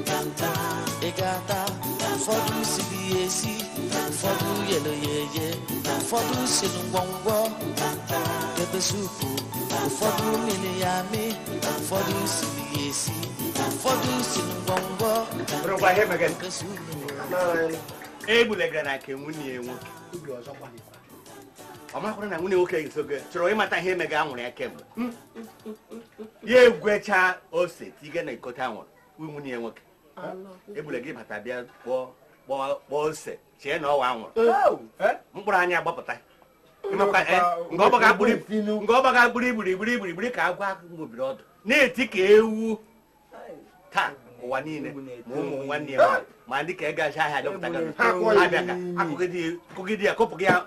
ntanta ị ga-ata ụfọdụ siri ya esi ụfọdụ yere ya eye ụfọdụ siri ngwọngwọ pepe supu ụfọdụ mịrị ya amị ụfọdụ siri ya esi ụfọdụ siri ngwọngwọ Bụrụkwa ihe megara. nke supu Egbule gara ka nwanne ya nwoke ọ makwara na nwanne ya nwoke nso gị chọrọ ịmata ihe mega anwụrụ ya kemgbe ya egwecha ose tige na ikota anwụrụ nwanne ya nwoke Egbule gị bata bịa kpọọ ose chee na ọ wụ anwụrụ mkpụrụ anya gbapụta nke ọgbaga gburu igburu igburu igburu igburu ka agwa ngobiri ọdụ na-eti ka ewu taa ụwa niile ma ụmụ nwanne ya ma ndị ka ị gaji ahịa dọpụta akụgide ya kopụ gị ya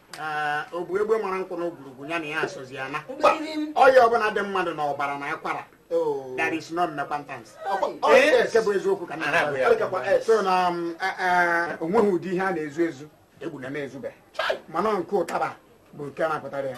ọ bụ egbe mara nkwụ na ogwurugwu ya na ya asọzi ya na ọya ọbụla dị mmadụ na ọbara na akwara oh. that is not repentance eh? nke bụ eziokwu ka na so na um, eh, eh, o nweghị ụdị ihe a na-ezu ezu Egbuna na-ezube mana nke ụtaba bụ nke na-apụtara ya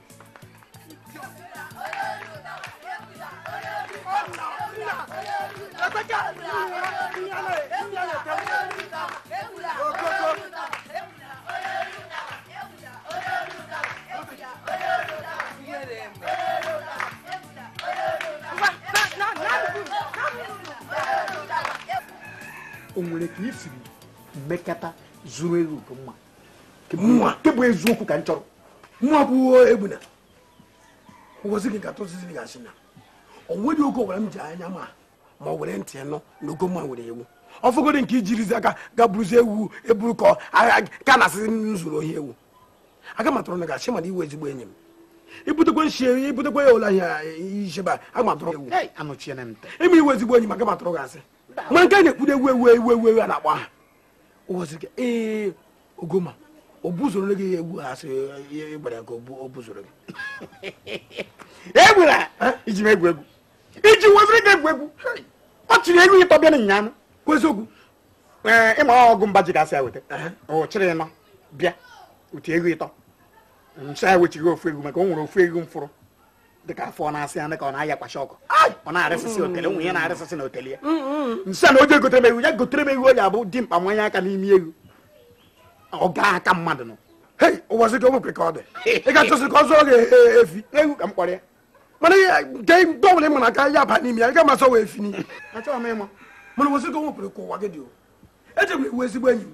o nwere ka i siri mekata zuru ewu nke mma mụnwa nke bụ eziokwu ka m chọrọ mụnwa bụ Egbuna ụbọchị gị ka tụzizi gị asị na o nweghị oge ọbụla m ji anya ma ma were ntị nụ na ọgọ m a nwere ewu ọ fọgodi nke i jirizi aka gaa buruzi ewu e buru ka ka a na-asịzi m zuru ohi ewu aga m atụrụ gị asị mana ị wụ ezigbo enyi m i butekwa nshi i butekwa ya ụlọ ya ichebe aga m atụrụ ewu ị ma ị wụ ezigbo enyi m aga m atụrụ gị asị ma nke na-ekwudo ewu ewu ewu ewu a na-akpọ aha ụwazirika ee ọgọ m a o buzoro gị ewu ha sị ịgbara ya ka o buzoro gị ewu a i ji eme egwu egwu iji weziri gị egwu egwu ọ chịrị ewu ịtọ bịa n'ịnya anụ kwuo eziokwu ee ịma ọgụ mba ji gasị ya weta ọ chịrị ịnọ bịa uti ewu ịtọ ncha ewechighị ofu ewu maka o nwere ofu ewu m fụrụ dịka afọ ọ na-asị ya ka ọ na-ayakwasị ọkụ ọ na-arịsịsị otele nwunye na-arịsịsị na otele ya nsị na o je gotere m ewu ya gotere m ewu o ji abụ dimkpa nwanye aka n'ime ewu ọ gaa aka mmadụ nọ hei ụbọchị ka o nwekwe ka ọ dị ị ga-achọsị ka ọ zụọ gị efi ewu ka m kpọrọ ya mana nke ndị ọbụla ị mara aka ya aba n'ime ya ị ga masị ọ wụ efi n'ime achọghị m ịma mana ụbọchị ka o nwepụrụ ka ụwa gị dị o ejegwere ewu ezigbo enyi m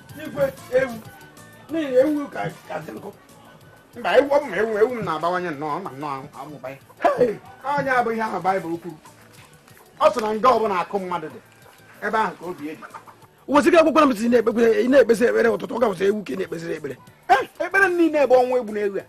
igwe ewu n'ihi ewu ka ka dị nkụ mba ewu ọ bụ ma ewu ewu m na-abawanye nnọọ ma nnọọ amụba ya Hei! ọ ya bụ ihe ahụ baịbụl kwuru ọ sị na nga ọbụla akụ mmadụ dị ebe ahụ ka obi dị wesịga akwụkwọ m si na-ekpekwe- ị na-ekpezi ekpere ụtụtụ ọ ga-awụzi ewu ka ị na-ekpezịrị ekpere Eh, ekpere m niile bụ ọnwụ egbuna ewu a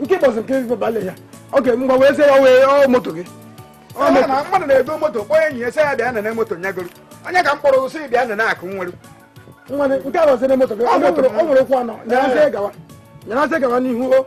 nke bọsụ nke ife bale ya oke mgbe wee sị ya wee ọ moto gị mmadụ na-ego moto kpọọ enyi ya sị ya bịa nene moto nya goro onye ka m kpọrọ sị bịa nene akụ m nwere nke a bụzi na moto gị ọ nwere ụkwụ anọ nyarasị gawa nyarasị gawa n'ihu o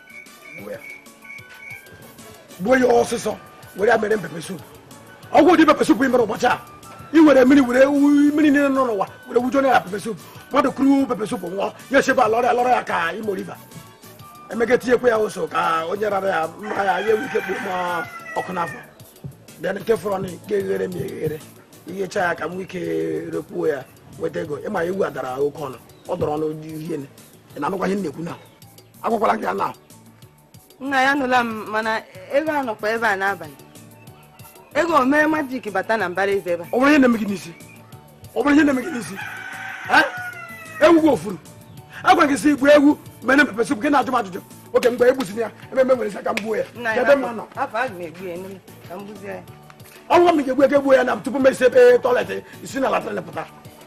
gbuo ya ọsịsọ were mere pepe soup ọkwa ụdị pepe soup ị mere ụbọchị a i were mmiri were mmiri niile nọ n'ụwa were wujuo na pepe soup mmadụ kuru pepe soup ṅụọ ya echebe alọrọ ya lọrọ ya ka Imo River emega tinyekwa ya ụsọ ka onye rara ya mma ya ya enwe ike kpuo ma ọkụ n'afọ bịa nke fọrọ na nke eghere m eghere i ghecha ya ka m ike rekwuo ya nweta ego ị ma ewu a dara oke ọnụ ọ dara ọnụ dị ị na-anụkwa ihe m na-ekwu na agwakwala gị ya na nna anyị anụla m mana ewu a nọkwa ebe a n'abalị ị ga-eme majik bata na mbara ezi ebe a ọ bụrụ ihe na-eme gị n'isi ọ bụrụ ihe na-eme gị n'isi ewu gị o furu a gwa gị sị gbuo ewu meenụ pepe sụpụ gị na-ajụ m ajụjụ oke mgbe egbuziri ya ememe nwere isi aka m gbuo ya ebe mma nọ ọnwụ m ga-egbu ewu egbuo ya na tupu m esi ebe tọiletị isi na latrịn pụta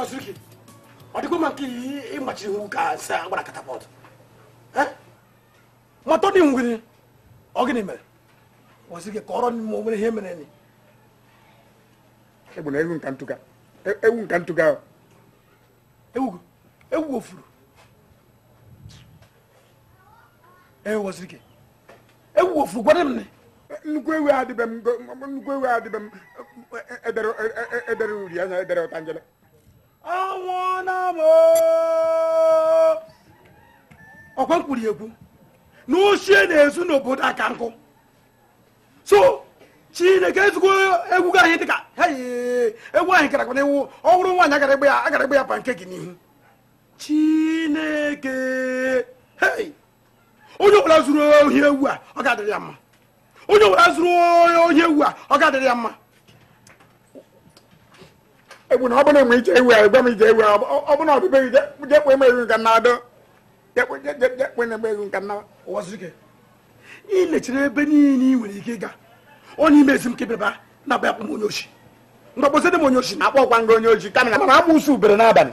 Waziriki, ọ dịkwa mma nke ị machiri ihu ka nsị a gbara katapọt matọ dị ngwere ọ gịnị mere Waziriki kọọrọnụ m o nwere ihe mereni egbu na ewu m ka m tụga e- ewu m ka m tụga ewu ewu gị o furu ee Waziriki ewu gị o furu gwara m nnukwu ewu a dị be m nnukwu ewu a dị be m edere e, e, edere uri anya edere ọtanjele anwụọna m ọkwa m kwuru ekwu na oshi e na-ezu n'obodo a ka nkụ so chineke ezigbo ewu gị ahụ dịka ewu ahụ gara n'iwu ọ bụrụ nwaanyị a gara ịgba ya a gara ịgba ya pancake n'ihu chineke onye ọbụla zuru ohi ewu a ọ ga-adịrị ya mma onye ọbụla zuru ohi ewu a ọ ga-adịrị ya mma egwu na ọ bụla enwe ije ewu anyị gwa m ije ewu ọ bụla ọbịbe gị jekwe m ewu nke a na-adọ jekwe na ewu nke a na ụwazuruike ị lechiri ebe niile ị nwere ike ịga ọ n'ime ezi m kebeba na-abịa akpọ m onye oshi mgbe kpọsị di m onye oshi nna akpọkwa m gị onye oshi kama ama m na ụsụ bere n'abalị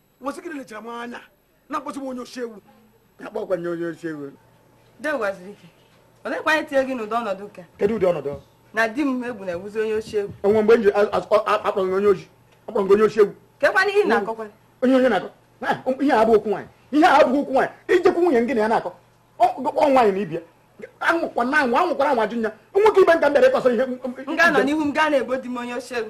ị sị gịnị i lechara m anya na-akpọsị m onye oshi ewu nna akpọkwa m gị onye oshi ewu olekwa anyị tinye gị n'ụdị ọnọdụ ka kedu ụdị ọnọdụ na di m ugbu a na-awụzi onye oshi ewu o nwe mgbe m ji akpọ gị onye oshi akpọ gị onye oshi ewu kekwanụ ihe na-akọkwa onye onye na-akọ ihe a bụ okwu nwaanyị ihe a abụghị okwu nwaanyị ị jekwu nwunye gị na ya na-akọ ọ nwaanyị na ibe ya anwụkwa na anwụ anwụkwara anwụ ajụ nya nwoke ibe m ka m bịara ịkọsọ ihe m ga-anọ n'ihu m ga na-akpọ di m onye oshi ewu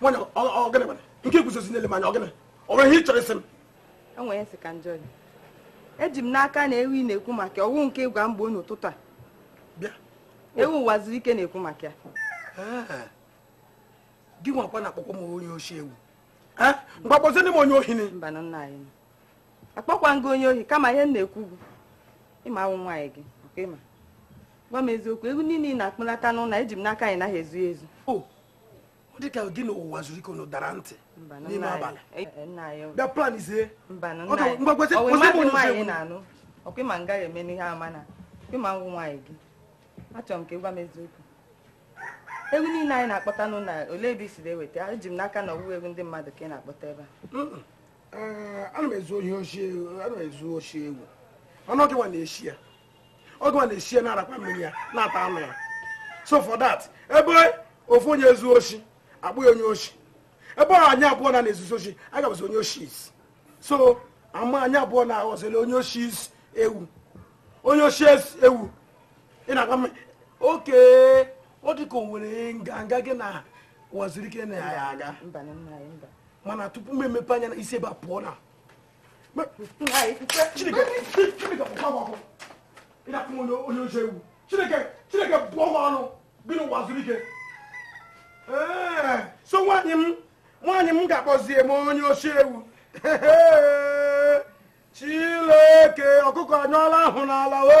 nwanyị ọ gịnị mere nke i guzozi na-ele m anya ọ gịnị o nwere ihe ị chọrọ ịsị m o nwere nsị ka njọ eji m n'aka na ewu ị na-ekwu maka ya ọ wụ nke ị gwa m gboo n'ụtụtụ a bịa ewu ụwazuruike na-ekwu maka ya gị nwakwa na-akpọkwa m onye oshi ewu mgbe akpọzie di m onye ohi akpọkwa m gị onye ohi kama ihe m na-ekwu bụ ị ma awụ m nwaanyị gị ọ kwa ị ma gwa m eziokwu ewu niile ị na-akpụlata n'ụlọ eji m n'aka na ị naghị ezu ezu dị ka gị na ụwazuruike unu dara ntị n'ime abalị bịa plan izie ọ kwa ị ma m gaghị eme n'ihe ama na ị ma na m wụ nwaanyị gị achọrọ m ka ị gwa m eziokwu ewu niile a ị na-akpọta n'ụlọ olee ebe i si eweta eji m n'aka na ọ wụghị ewu ndị mmadụ ka ị na-akpọta ebe a ana m ezu ohi oshi ana m ezu oshi ewu mana ọ gị nwa na-eshi ya ọ gị nwa na-eshi ya na-arakwa mmiri ya na-ata anụ ya so for that ebe ofu onye zuo oshi akpọọ ya onye oshi ebe ọ anyị abụọ na-ezuzi oshi a ga-abụzi onye oshis so ama anyị abụọ na aghọzila onye oshies ewu onye oshies ewu ị na-agwa m oke ọ dị ka o nwere nganga gị na ụwazuruike na ya aga mba na nna anyị mba mana tupu m emepe anya i si ebe a pụọ nna onye oshi ewu chineke chineke kpọọ ọkụ ọnụ gị na ụwazuruike so nwaanyị m nwaanyị m ga-akpọzie m onye oshi ewu chileke ọkụkọ anyụọla ahụ n'ala o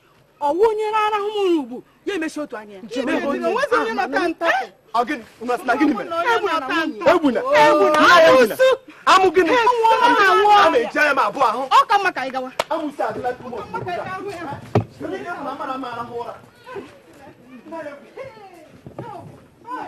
ọ wụ onye arahụma ụra ugbu a ya emechie otu anya amụ gịnị ọ ka mma ka anyị gawa Hey!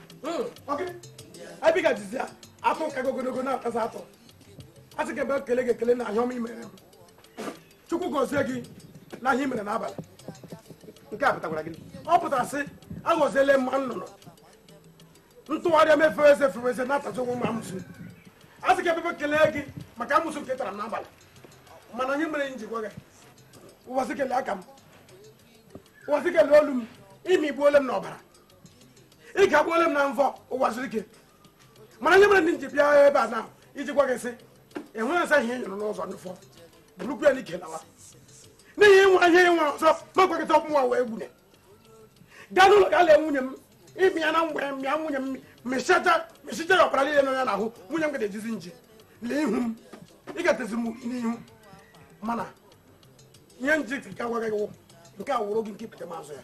abiga jizi ya atụ ka ogologo na-atazi atụ a sị gị ebe ekele gị ekele na ihe ọma imere m chukwu gọzie gị na ihe imere n'abalị nke a pụtakwara gị ọ pụtara sị aghọziele m nnụnụ ntụgharịa m fezie fezie na-atazi onwe m amụsụ a sị gị ebe ekele gị maka amụsụ nke tara m n'abalị mana ihe mere m ji gwa gị ụwa zuru ike lee aka m ụwa zuru ike lee olu m ịmigbuole m n'ọbara ịkagbuola m na mvọ ụwa zuru ike mana ihe mere m ji bịa ebe a na iji gwa gị sị enweghị asa ihe nyụrụ n'ụzọ ndụfọ bụrụkwu ya n'ike lawa n'ihi ịnwa ihe ịnwa ọzọ ma gwakịta ọmụwa wee gbune gaa n'ụlọ ga lee nwunye m ịmị ya na mgbe mịa nwunye m mịchata mịchicha ya ọbara niile nọ ya n'ahụ nwunye m ga ejizi nji lee ihu m ị gatezi m n'ihu mana ihe nji ka gwa gị nke a wụrụ gị nke ikpetemazụ ya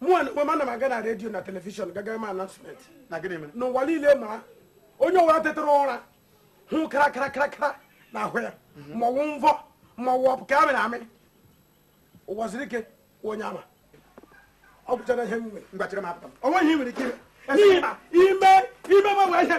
mụa na onwe m ana m aga na radio na television ga ga mee announcement na gịnị mere n'ụwa niile mara onye ọwụla tetara ụra hụ kara kara kara kara na ahụ ya ma ọwụ mvọ ma ọwụ ọpụ ka amịrị amị ụwa zuru ike onye ama ọ gwụchara ihe m nwere ngwa chere m apụta m. o nweghị ihe ị nwere ike ime N'ihi na ime ime gbanwe ihe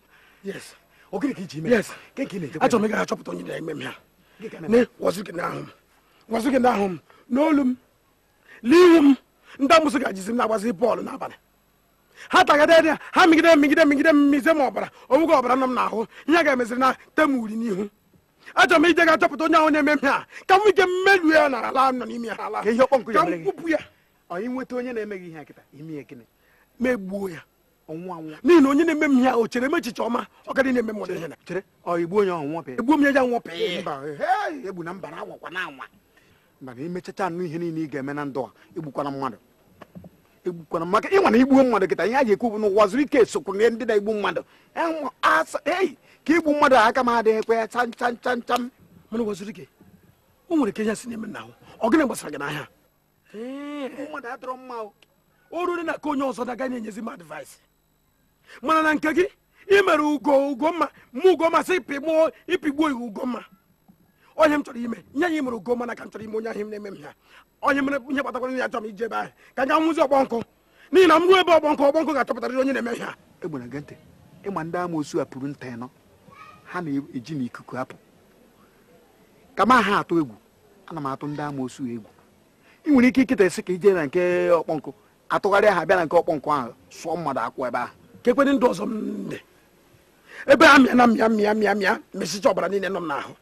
yes ọ gịnị ka iji ime yes ka ka ị na-eje achọrọ m ịga achọpụta onye na-eme m ihe a ụwa zuru ike n'ahụ m ụwa zuru ike n'ahụ m n'olu m n'ihu m ndị amụsụ ga-ejizi m na-agbazi bọọlụ n'abalị ha tagade ya ha migide migide migide mmize m ọbara onweghị ọbara nọ m n'ahụ ihe a ga-emeziri na e tee m uri n'ihu achọrọ m ije ga achọpụta onye ahụ na-eme m ihe a ka m ike mmerụ ya na ala nọ n'ime ya ala ka m kwupụ ya onye na-eme gị ihe a kịta ime gịnị m egbuo ya n'ihi na onye na-eme m ihe ahụ chere m echiche ọma ọ gadị na-eme m ihe na chere igbu onye ahụ nwọpe egbu m ya ya nwọpe egbu na mba na anwakwa na anwa mana imechacha anụ ihe niile ị ga-eme na ndụ a egbukwana mmadụ egbukwana maka ịnwa na igbuo mmadụ kịta ihe a ga-ekwu bụ n'ụwa zuru ike sokwu na ndị na-egbu mmadụ ei ka igbu mmadụ aka m adịghịkwa cham cham cham cham mana ụwa zuru ike o nwere ka ihe si na-eme na ahụ ọ gịnị gbasara gị n'ihe a mmadụ adịrọ mma o ruru na nke onye ọzọ ị ga na-enyezi m advice mana na nke gị ị mere ugo ugomma mụ ugomma sị pịgbuo ịpịgbuo iwu ugomma ọ ihe m chọrọ ime ihe a imere ugomma na ka m chọrọ ime onye ahụ na-eme m ihe a onye mere ihe kpatakwara ya chọrọ m ije ebe ahụ ka m ga hụzi ọkpọ nkụ n'ihi na m ruo ebe ọkpọ nkụ ọkpọ nkụ ga-achọpụtarịrị onye na-eme ihe a egbere gị ntị ịma ndị amoosu a pụrụ nta ịnọ ha na-eji na ikuku apụ ka ma ha atụ egwu ana m atụ ndị amoosu egwu ị nwere ike kịta ị sị ka ije na nke ọkpọ nkụ atụgharịa ha bịa na nke ọkpọ nkụ ahụ sụọ mmadụ akwụ ebe ahụ kekwedị ndị ọzọ m dị ebe a mịa na mịa mịa mịa mịa mịsịcha ọbara niile nọ m n'ahụ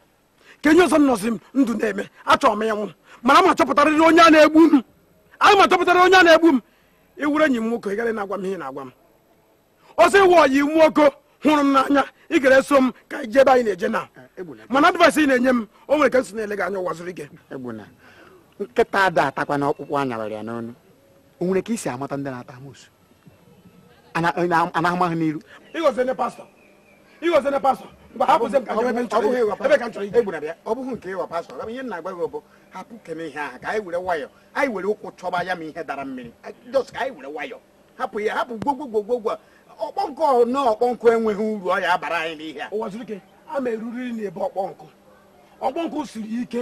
kee ihe ọzọ nọzi m ndụ na-eme achọrọ m ịnwụ mana ma chọpụtarịrị onye a na-egbu m m ma chọpụtarịrị onye a na-egbu m ị wụrụ enyi m nwoke ị gara na-agwa m ihe na-agwa m a sị ị wụ ọyị nwoke hụrụ m n'anya ị gara eso m ka anyị jee ebe anyị na-eje na eh, mana advice ị na-enye m o nwere ka m si na-ele gị anya ụwa zuru ike nkịta ada atakwa na ọkpụkpụ a nyawara ya n'onu o nwere ka e si amata ndị na-ata amosu a na-ama ha n'iru ị ghọziene pastọ ị ghọziene pastọ mgbe ha bụzi ka ebe nchọrọ ebe ka nchọrọ egbuna bịa ọ bụghị nke ịghọ pastọ gaba ihe m na-agwa gị bụ hapụkene ihe ahụ ka anyị were nwayọ anyị were ụkwụ chọba ya ma ihe dara mmiri just ka anyị were nwayọ hapụ ya hapụ gwogwogwogwogwo Ọkpọnkụ na Ọkpọnkụ enweghị uru ọ ya-abara anyị n'ihe a ụwa zuru ike a ma eruriri na be Ọkpọnkụ Ọkpọnkụ siri ike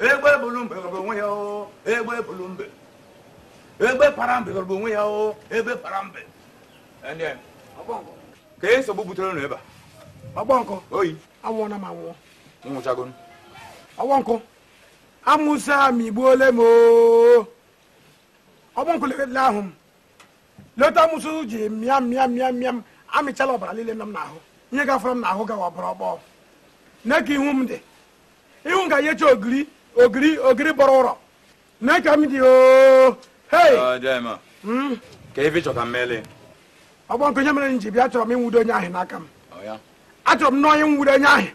egbe bulu mbe gọrọ onwe ya o egbe bulu mbe egbe para mbe gọrọ onwe ya o egbe para mbe Ndị a, kee nsogbu butere unu ebe a Ọkpọnkụ ọyị anwụọna m anwụọ nwụchagonu Ọkpọnkụ amosu amịgbuole m oo. Ọkpọnkụ lekele ahụ m lee etu amosu ji mịa mịa mịa mịa m amịchala ọbara niile nọ m n'ahụ ihe gafere m n'ahụ gawa ọbara Ọkpọ nee ka ihu m dị ihu ka yecha ogiri ogiri ogiri bọrọ ụrọ mee ka m dị oo hei hmm? kee ife ị chọ ka m mele Ọkpọnkụ ihe mere m ji bịa achọrọ m ịnwudo onye ahụ n'aka m achọrọ m na onye nwudo onye ahụ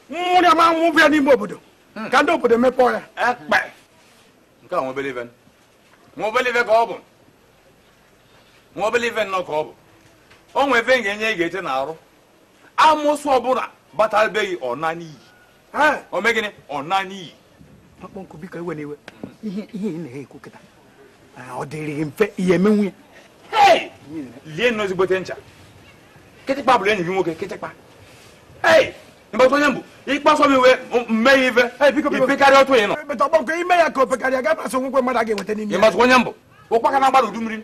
m nwụrụ ya ma nwụbụ ya n'ime obodo hmm. ka ndị obodo mepee ya ekpe nke a nwa obele ife nwa obele ife ka ọ bụ nwa obele ife nnọọ ka ọ bụ o nwee ife m ga-enye gị ị ga-ete n'arụ amosu ọbụla bata be gị ọ naa n'iyi o mee gịnị ọ naa n'iyi Ọkpọnkụ biko ewena iwe ihe ihe ị na-ekwu kịta ọ dịrị gị mfe ihe eme nwunye lie nnọọ ezigbote ncha kịtịkpa bụrụ enyi gị nwoke kịtịkpa ei ị mata onye m bụ ị kpasuo m iwe m mee gị ife i pekarịa otu ị nọ ọgbakọ ime ya ka o pekarịa ga-abasị onwekwe mmadụ a ga-enweta n'ime ya ị matụ onye m bụ ụkpaka na-agba n'udu mmiri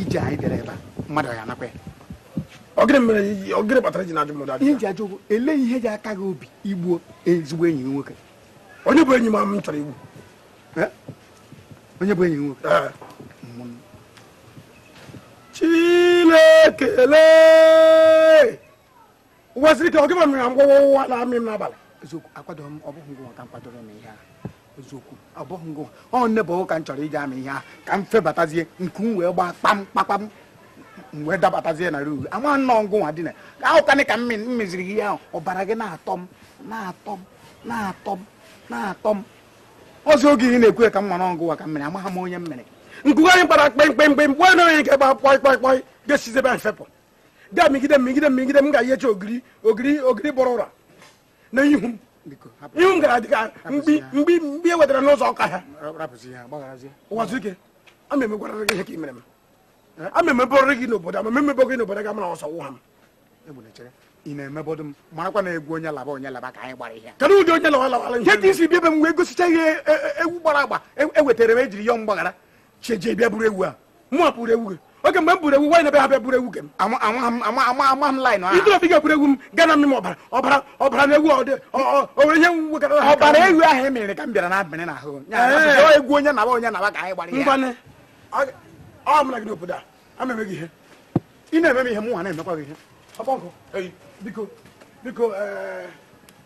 ije anyị bịara ebe a mmadụ ọ ya-anakwa ọ gịrị mere ọ gịrị kpatara i ji na-ajụ mmadụ ihe m ji ajụ bụ ele ihe ji aka gị obi i gbuo ezigbo enyi gị nwoke onye bụ enyi m m chọrọ igbu onye bụ enyi gị nwoke Chineke lee ụwa zuru ike ọ gịwa mere na mgbawa ụwa na-amị m n'abalị eziokwu akwadoro m ọ bụghị ngịwa ka m kwadoro m ihe ahụ eziokwu ọ bụghị ngịwa ọ nne bụ ka m chọrọ iji amị ihe ahụ ka m febatazie nku m wee gbaa kpam kpakpam m wee dabatazie na ruuru ama nnọọ ngịwa nwa dị na ahụ kanị ka m meziri ihe ahụ ọbara gị na-atọ m na-atọ m na-atọ m na-atọ m ọzọ oge ị na-ekwu ka m mara ọ gịwa ka m mere amaghị m onye m mere nku anyị gbara kpemkpemkpe mgbe onye nke gba kpọị kpọị kpọị ka e sizi ebe anyị fepụ bịa migide m migide m migide m ga-eyecha ogiri ogiri ogiri bọrọ ụra na ihu m ihu m gara dịka mgbi mgbi mgbi e wetara n'ụzọ ọka ha ụwazụike ama emegwara gị ihe ka i mere m ama emebọrọ gị n'obodo ama emebọ gị n'obodo ga mara ọsọ wụ ha m ị na-emebọdụ m marakwa na egwu onye laba onye laba ka anyị gbara ihe kedu ụdị onye lawa lawara ihe ka isi bịa ebe m wee gosicha ihe e, e, ewu gbara agba ewetara e m ejiri yọọ mgbaghara cheje bịa buru ewu a mụ nwa buru ewu gị oke mgbe m buru ewu nwaanyị na-ebe ha bịa buru ewu gị m ama m laịn ahụ ịdịrọ bịga buru ewu m ga na mmiri ọbara ọbara ọbara na ewu ọdị onwere ihe nwegara ha ọbara ewu ahụ e mere ka m bịara na-abịrị na ahụ egwu onye naba onye naba ka anyị gbara ngwanụ ọ mụ na gị n'obodo a ama eme gị ihe ị na-eme m ihe mụ nwa na-emekwa gị ihe biko biko eh,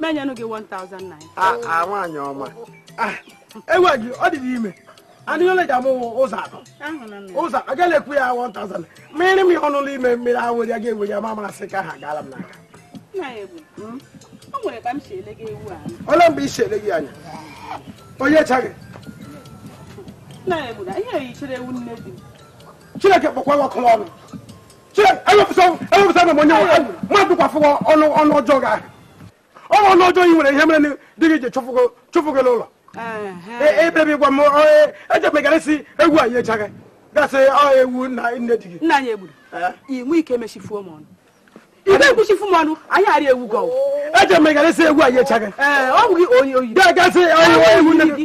m enyenụ gị 1000 naira a ah, ah, nwaanyị ọma ah, ewu gị ọ dị ime anụ ole ji amụ ụzọ atọ ụzọ agaghị ekwu ya 1000 mmiri m ya ọnụ ụlọ ime mmiri ahụ ya ga-ewe ya ma masị ka ha gaala m n'aka hmm? ole mgbe i si ele gị anya onye chaghị chineke kpọkwa nwa ọkụ n'ọnụ ọnụ ọjọọ ị nwere ihe mere di gị ji chụfụ gị n'ụlọ ebe i bi e, e, gwa m ejemegara e si ewu anyị echaghị gasị ewu na nne di gị nna anyị egburu i nwe ike emechifuo m ọnụ ibe ekwuchifu m ọnụ anyị arịa ewu gị ejemegara si ewu anyị echaghị ọ bụ gị oyi oyi gasị ewu nne gị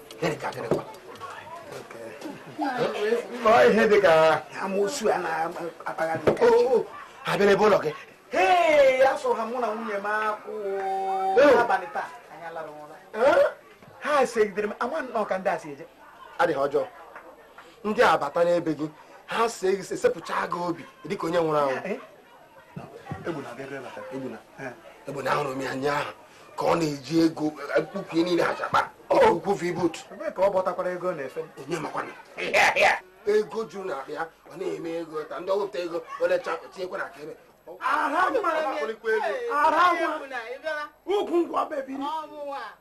ihe dị ka amoosu a na-akpagharị abịara ebe ụlọ gị ee asụrụ ha mụ na nwunye m akwụ abalị taa anyị alara ụra ha segidere m ama nnọọ ka ndị a si eje adị ọjọọ ndị a bata n'ebe gị ha see gị sepụcha gị obi dịka onye nwụrụ anwụ egbuna ahụrụ m ya anya ahụ ka ọ na-eji ego mkpuku e, niile achakpa ukwu v-boot ka ọ bọtakwara ego na-efe onye makwa na ego juru na akpa ya ọ na-eme ego ta ndị ọ wepụta ego olecha tinyekwa na aka ebe ara nwa ugwu ngwa bebiri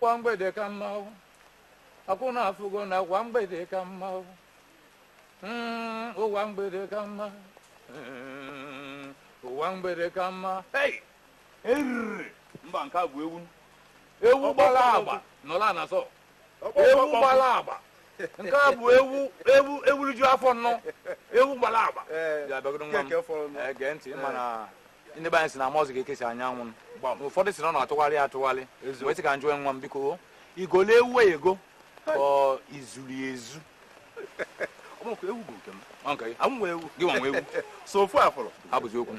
ụwa mgbede ka mma akụnna afụgo na ụwa mgbede ka mma ụwa mgbede ka mma ụwa mgbede ka mma eriri mba nke a bụ ewu ewu gbara agba nọla na zọ ewu gbara agba nke a bụ ewu ewu ewuliju afọ nnọ ewu gbara agba ya bịagodo nwa m Eh, gee ntị ịma na ndị be anyị si na mọzụ ga-ekesi anyanwụ na ụfọdụ si na ọ na-atụgharị atụgharị wee sị ka m jụọ nwa m biko i golu ewu ego ka ọ izuru ya ezu ọmụkwa ewu bụ nke m Ọ nke gị? Ọ mụ nwe ewu gị nwa nwe ewu so ofu afọrọ abụzi okwu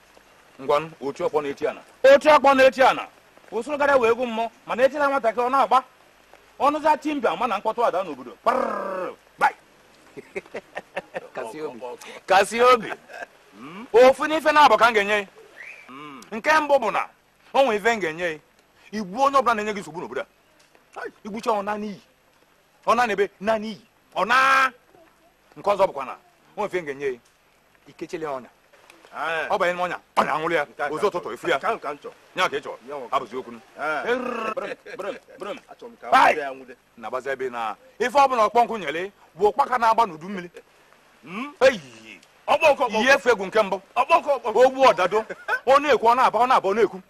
ngwanụ oti ọkpọ na-eti ana oti ọkpọ na-eti ana usoro gara wee egwu mmụọ mana etila nwatakịrị ọ na-agba ọnụza timbia mana mkpọtụ ada n'obodo kasị obi hmm? ofu n'ife naabọ ka m ga-enye ị hmm. nke mbụ bụ na ọ nwee ife m ga-enye ị igbu onye ọbụla na-enye gị nsogbu n'obodo a igbucha ọ naa n'iyi ọ naa n'ebe naa n'iyi ọ naa nke ọzọ bụkwa na ọ nwee ife m ga-enye ikechele ọnya eh. ọ banye n'ọnya ọnya anwụrụ ya ozu ụtụtụ ị fụ ya nya ka ị chọrọ abụzi okwu na-agbazi ebe na ife ọ bụla ọkpọkụ nyere bụ ụkpaka na-agba n'udu mmiri hmm? eyiyi ihe efe egwu nke mbụ ogbu ọdado ọ na-ekwu ọ na-aba ọ na-aba ọ na-ekwu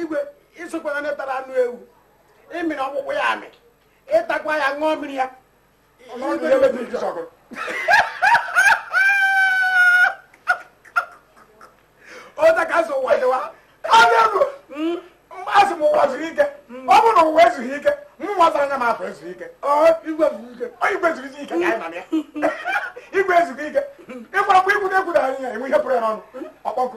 igwe ịsụkwara ndị tara anụ ewu ịmịrị ọkpụkpụ ya amị ịtakwa ya ṅụọ mmiri ya otu a ka a sị ụwa dịwa hmm? asị m ụwa zuru ike hmm. ọ bụrụ na ụwa ezughị ike mụnwa zara anya m afọ ezughị ike igwe zuru ike ka anyị mana ya igwe ezughị ike ịgwara kwa ikwu na-ekwudara anyị ya enwe ihe pụrụ ya n'ọnụ hmm? ọkpọkụ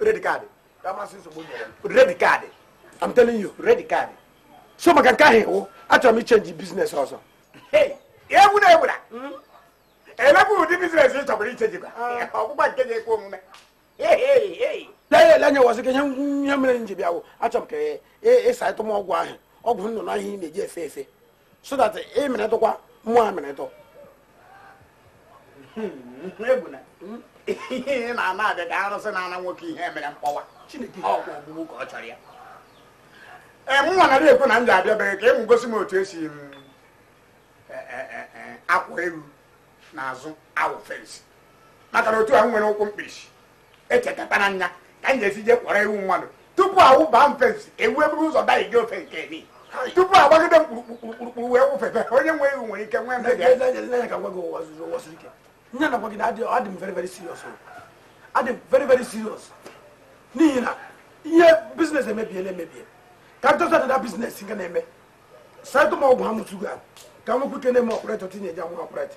red card ka Mazị Nsogbu nyere m. red card I'm telling you red card so maka nke ahụ iwu achọrọ m ịchange business ọzọ Hey, egwu na egwura elekwa ụdị business ị chọbụrụ ịchangekwa ọgbụgba nke ga-ekwe omume Hey, hey, hey. lee ele anya wazị ka ihe ihe mere m ji bịa wụ achọrọ m ka ị saịtụ m ọgwụ ahụ ọgwụ nnụnụ ahụ ị na-eji efe efe so that ị meretụkwa mụ a meretụ ihe na-ana abịa ka arụsị na-ana nwoke ihe mere mkpọwa Chineke ọkwa ogbugbu ka ọ chọrọ ya ee m nwa nara ekwu na m ji abịa be gị ka ị wee gosi m otu esi m e, e, e, akwọ ewu n'azụ awụ fence maka na otu a m nwere ụkwụ mkpirisi echekatara nya ka m ga-esi jee kwọrọ ewu mmadụ tupu awụba m fence ewu eburu ụzọ daje ofe nke ni tupu agbagide m kpurukpurukpuru wee wụfebe onye nwe ewu nwere ike nwee mmebi N'ezie, n'ezie, n'ezie ka m gwa gị ụwa zuru ike ihe m na-agwa gị na adị adị m very very serious o. adị m very very serious n'ihi na ihe business emebiela emebie ka m chọta standard business nke na-eme saịtụ m ọgwụ ha mụtugo ahụ ka m nwekwa ike na-eme operate ihe eji awụ operate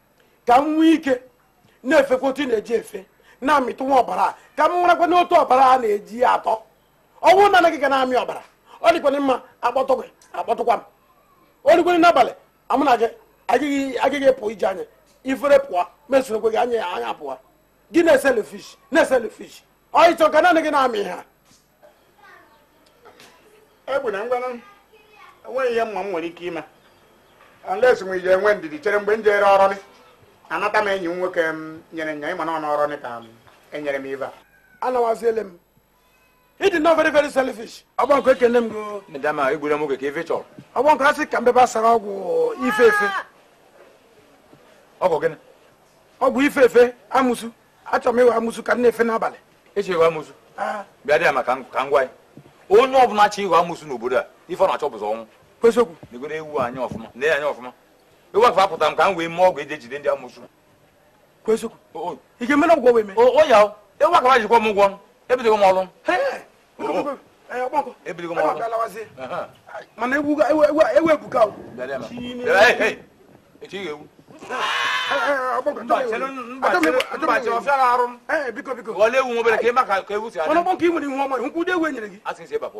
ka m nwee ike na-efekwa otu ị na-eji efe na-amịtụ nwa ọbara a ka m marakwanụ otu ọbara a na-eji ya atọ ọ wụ naanị gị ga na-amị ọbara ọ dịkwana mma akpọtụ gị akpọtụkwa m ọ dịkwana n'abalị a mụ na gị agaghị agaghị pụ ije anya ifere pụọ mesorokwe gị anya anya pụọ gị na selfish na selfish ọ ịchọ ka naanị gị na-amị ha egwu na ngwanụ enweghị ihe mụwa nwere ike ime unless ị je-enwe ndidi chere mgbe m jere ọrọlị anata m enyi m nwoke m nyere nya ịma na ọnụ ọrọlị ka enyere m ibe a anawaziele m ị dịnụ very very selfish ọgbọ nkụ ekene m go ndama egbure nwoke ka ife chọrọ ọgbọ nkụ asị ka mbebe asara ọgwụ ife efe ọgwụ gịnị ọgwụ ife efe amụsu achọrọ m ịwụ amụsụ ka m na-efe n'abalị ịchọ ịwụ amụsụ bịa dị ya maka ka ngwa ya onye ọbụla achọ ịwụ amụsụ n'obodo a ife ọ na-achọ bụ ụzọ ọnwụ eziokwu negodu ewu a anya ọfụma nee ya anya ọfụma ewu a ka fa kpụta m ka m wee mee ọgwụ eji ejide ndị amụsụ eziokwu ị ga-emere ọgwụ wee mee o ya ewu a ka fa ji kwụọ m ụgwọ ebidogo m ọrụ ebidogo m ọrụ mana ewu ebuka echi ga-ewu biko biko ole ewu nwobere ka ịma ka ewu si adị ọnụ kpọnka ị nwere ihu ọma nkwụdo ewu enyere gị asị nsị ịbapụ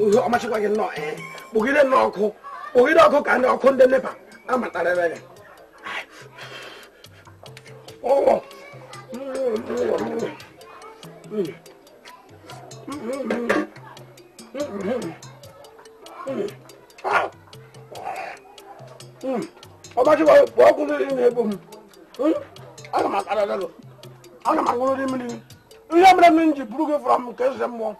uhe ọmachịkwa gị nnọọ ee kpụgide nnọọ ọkụ kpụgide ọkụ ka ndị ọkụ ndị nepa amatara ebe gị ọgbachikwa kpọọ ọkụ mmiri na-egbu m ana m akara gị ana m aṅụrụ mmiri ihe mere m ji buru gị from nke eze mmụọ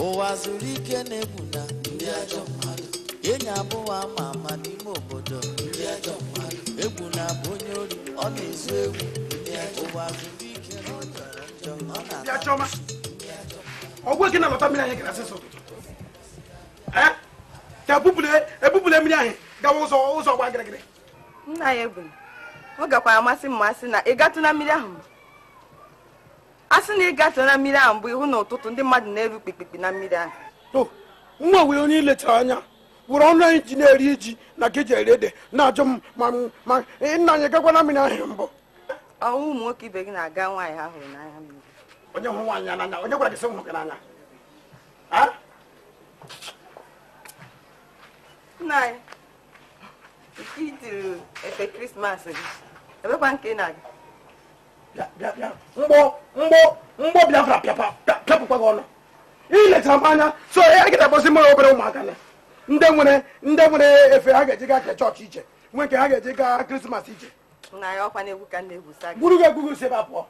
ụwazuruike na egwu na ndị ajọ mmadụ enyi abụọ ama ama n'ime obodo ndị ajọ mmadụ egwu na-abụ onye ori ọ na-ezu ewu ụwazuruike na ọ jọrọ njọ ọ na-ata ọgwụ gị na-alọta mmiri anyị gara asịsọ ka ebupụla mmiri ahụ gawa ụzọ ụzọ gba gịrịgịrị nna anyị egwu ọ gakwara amasị m asị na ị gatụ na mmiri ahụ mbụ asị na ị gatụ na mmiri ahụ mbụ ịhụ na ọtụtụ ndị mmadụ na-eru kpikpikpi na mmiri ahụ nwa wee onye ilechara anya were ọnụ a ị ji na-eri ji na nke ị ji eri ede na-ajụ m ma ma nna anyị gakwa na mmiri ahụ mbụ ọnwụ ụmụ nwoke ibe gị na-aga nwaanyị ahụ n'anya mmiri onye hụrụ nwaanyị n'anya onye gwara gị sị hụrụ gị n'anya nna anyị nke itiri efe krismas gị ebekwa nke ị na-aga mgbọ mgbọ mgbọ biafra pịapụkwa gị ọnụ ilecha m anya so ya gị na-akpọzi mụrụ obere ụmụaka na ndị nwere ndị nwere efe ha ga-eji gaa ka chọọchị iche nwee nke ha ga-eji gaa krismas iche gburu gị egwugo si ebe a pụọ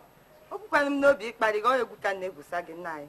ebughịkwanụ m n'obi ịkparị gị ọ egwu ka m na-egwusa gị nna anyị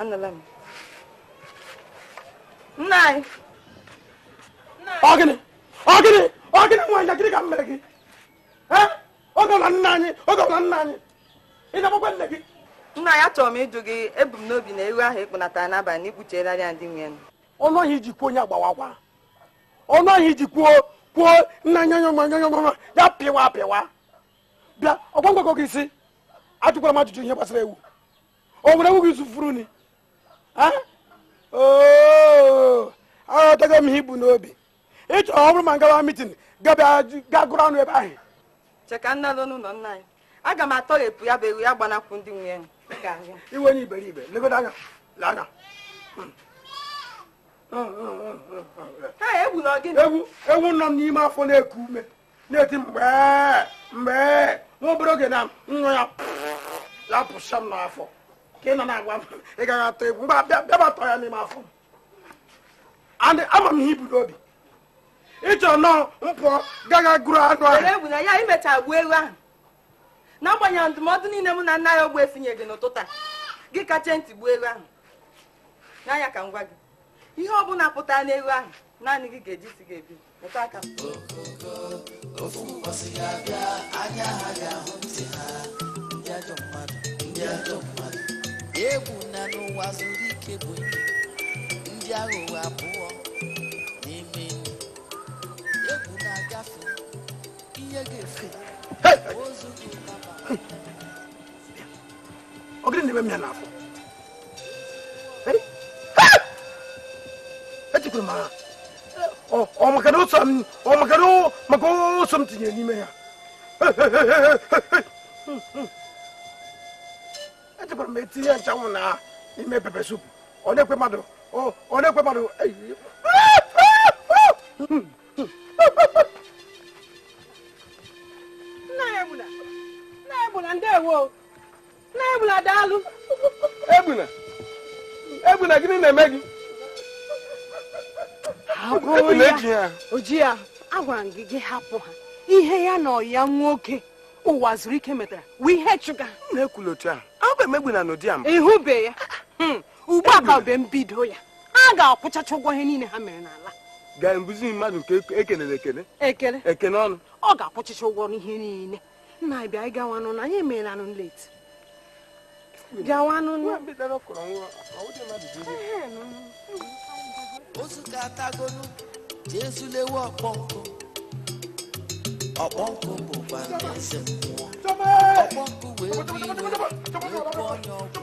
anụla m nna anyị ọ gịnị ọ gịnị ọ gịnị nwaanyị gịnị ka m mere gị ọ gọla nna anyị ọ gọla nna anyị ị na-akpọkwa nne gị nna anyị achọrọ m ịjụ gị ebu m n'obi na ewu ahụ ịkpụnatara n'abalị na ịkpụchiela ya ndị nwe ọnụ ahụ iji kwuo ya gbawakwa ọnụ ahụ iji kwuo kwuo nna nyanyanyanyanyanya ya pịwa apịwa bịa ọ kwa m agwago gị sị ajụkwala m ajụjụ ihe gbasara ewu o nwere ewu gị so furu ni aghọtago m ihe ibu n'obi ịchọ ọ bụrụ ma m gawa mitin gị agụrụ anụ ebe ahụ cheka nna lụ n'ụlọ nna anyị aga m atọghepụ ya bụ ewu ya gbanakwu ndị nwe ya ị wụ onye iberibe legodo anya lee anya ewu nọ n'ime afọ na-eku ume na-eti mgbe mgbe nwa obere oge na m nyụọ ya ya apụsa m n'afọ ka ị nọ na-agwa m ị gaghị atọ ewu mgbe bịaba tọọ ya n'ime afọ m ama m ihe ibu n'obi ịchọ na m pụọ gị agaa gụrụ anụ ahụ egwu nna anyị imecha gbuo ewu ahụ n'agbanyeghị ndụmọdụ niile mụ na nna anyị ogbuefi nyere gị n'ụtụtụ a gị kachie ntị gbuo ewu ahụ nna anyị ka m gwa gị ihe ọ bụla pụtara n'ewu ahụ naanị gị ga-eji isi gị ebu Metụ aka m. ofu ụbọchị ga-abịa anya ha ga-ahụ ntị ha ndị ajọ mmadụ ndị ajọ mmadụ egwu na Ụwazuruike bụ enyi. ndị aghụghọ abụọ na-eme enyi. egwu na-agafe ihe ga-efe ozu gị ụtaba ọ gịnị na-eme m ya n'afọ Hey! Ha! echekwara m ha maka na oso m maka na maka oso m tinyere n'ime ya echekwara m etinye nchanwụ na ime pepper soup ọ na-ekwe mmadụ ọ na-ekwe mmadụ nna Egbuna nna Egbuna ndewo Egbuna daalụ. Egbuna. Egbuna gịnị na-eme gị? Agụụ ya. Oji ya. Agwara m gị gị hapụ ha. Ihe ya na ọyị ya nwoke Ụwazuruike metara wụ ihe chụga. M na-ekwulu otu ahụ. Ahụbe m Egbuna n'ụdị a. Ịhụbe ya. Hmm. Ugbu a ka bụ mbido ya. Ha ga-akwụchacha ụgwọ ihe niile ha mere n'ala. Gaa mbuzi mmadụ nke ekelere ekele. Ekele. Ekele ọnụ. Ọ ga-akwụchacha ụgwọ ihe niile. nna anyị bịa anyị gawanụ na anyị emeelanụ late gawanụ ozu ka atagolu jesu lewe ọkpọ nkụ ọkpọ nkụ bụkwa eze mmụọ ọkpọ nkụ wee bụ iwe wee bụ onye ọgwụ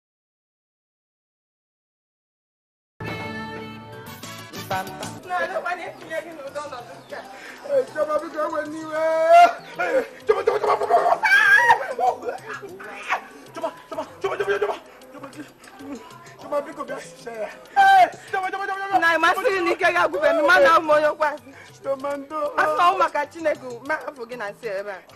na masịrị na ike ga-agwụbe mmanụ ahụ onye okwe asị asị ọnwụ maka chineke ma afọ gị na nsị ebe a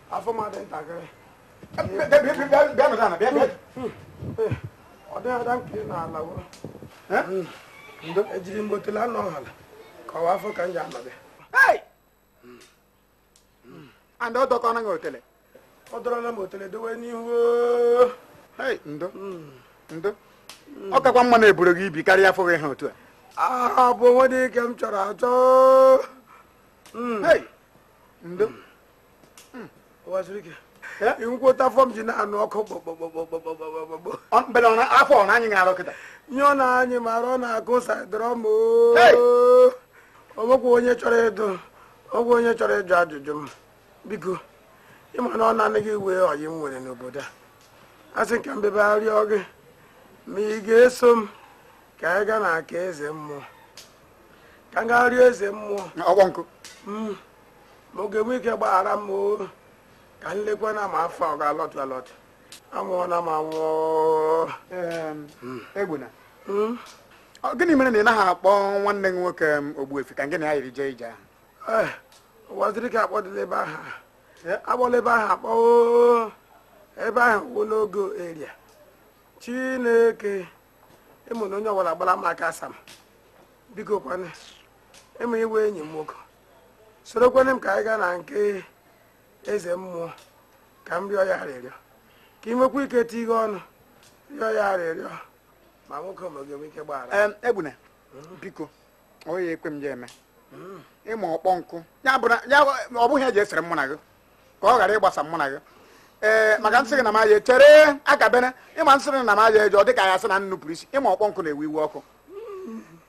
afọ m adị ntakịrị ọ dịghị ada nke n'ala ejiri m otele anọ ọhala kọwa afọ ka m ji anọbịa and ọ dọkọ anaghị otele ọ dọrọla m otele dowe n'ihu ndo ndo ọ kakwa mma na-eburu gị ibi karịa afọ gị ha otu a a bụ o nwe nke m chọrọ achọ hmm. ndo ekwuta afọ m ji na-anụ ọkụ kpọkpọkpọkpọkpọkpọkpọ mbele ọ na- afọ ọ na anyị na-arụ kịta nyụọ na anyị mara ọ na-agụ sadrọm Hey! onwekwa onye chọrọ ịdụ ọgwụ onye chọrọ ịjụ ajụjụ m biko ị ma na ọ naanị gị wụ ọyị m nwere n'obodo a a sị ka m bịa abịa rịọ gị ma ị ga-eso m ka anyị gaa na nke eze mmụọ ka m gaa rịọ eze mmụọ ọkpọ nkụ Mm. ma ọ ga-enwe ike gbaghara m o ka m lekwa na ma afọ ọ ga-alọtụ alọtụ anwụọla m anwụọ Egbuna hmm? ọ gịnị mere na ị naghị akpọ nwanne gị nwoke Ogbuefi ka gị na ya yiri jee ije ahụ eh, Ụwazuruike akpọdịla ebe ahụ eh? akpọla ebe ahụ akpọ ebe ahụ wụ no go area chineke ịmụ na onye ọbụla gbara m aka asam bikokwanụ ịmụ iwe enyi m nwoke sorokwenụ m ka anyị gaa na nke eze mmụọ ka m rịọ ya arịrịọ ka ị nwekwa ike tinye ọnụ rịọ ya arịrịọ ma nwoke m a ga-enwe ike gbaghara Egbuna biko onye ya ekwe m ya eme ị ma Ọkpọnkụ ya bụ na ọ bụghị ihe je-esere mụ na gị ka ọ ghara ịgbasa mụ na gị ee maka m sị gị na m ja-echere akabere ị ma m sị gị na m ja-eje ọ dị ka ya sị na m nupụrụ isi ị ma Ọkpọnkụ na-ewe iwe ọkụ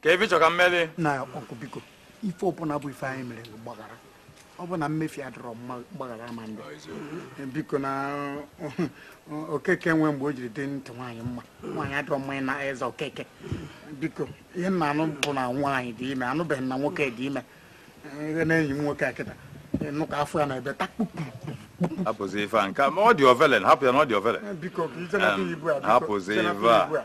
ka ebe chọ ka mmeri na ọkụ biko ife ọbụla bụ ife anyị mere gbaghara ọ bụ na mmefie adịrọ mgbaghara ama adị biko na okeke nwe mgbe o jiri dị ntị nwaanyị mma nwaanyị adọrọ mmanya na eze okeke biko ihe m na-anụ bụ na nwaanyị dị ime anụbeghị m na nwoke dị ime ihe na-enyi m nwoke a kịta nụ ka afọ ya na-ebe takpukpu hapụzi ife a nke ma ọ dị ovelen hapụ ya na ọ dị ovelen hapụzi ife a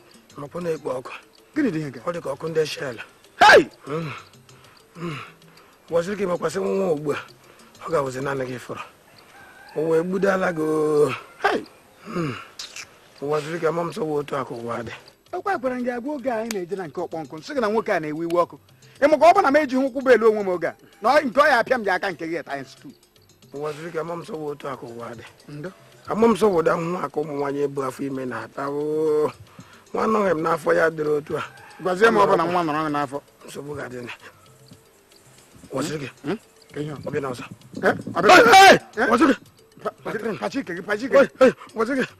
ọkụ na-ekpo ọkụ gịnị dị ọ dị ka ọkụ ndị Shell Ụwazuruike mekwasị nwa ugbu a ọ ga-awụzi naanị gị fọrọ o wee gbudala gị Ụwazuruike ama m sị ọ wụ otu a ka ụwa dị ọkwa m gwara gị agwa oge anyị na-eje na nke Ọkpọnkụ m sị gị na nwoke a na-ewe iwe ọkụ ị makwa ọ bụ na m ejighị ụkwụ bụ elu onwe m oge a na nke ọ ya apịa m ji aka nke gị times two Ụwazuruike ama m sị ọ wụ otu a ka ụwa dị ama m sị ọ wụ ụdị ahụhụ a ka ụmụ nwaanyị bu afọ ime na-ata nwa anọghị m n'afọ ya dịrị otu a gwazie m ọ bụrụ na nwa nọrọ n'afọ nsogbu ga-adị na Ụwazuruike hmm? ọ bịala ọzọ eh? Ụwazuruike pachike gị pachike Ụwazuruike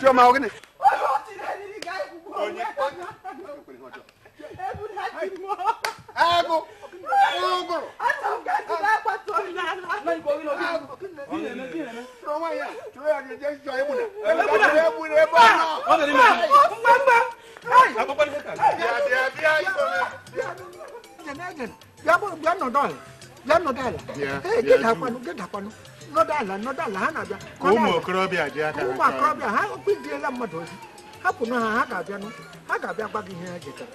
Chioma ọ gịnị? Agụ ụgụrụ. ụmụ okorobịa dị aka ụmụ okorobịa ha kpịdiela mmadụ ozi hapụ na ha ha ga-abịanụ ha ga-abịa gwa gị ihe ha jetara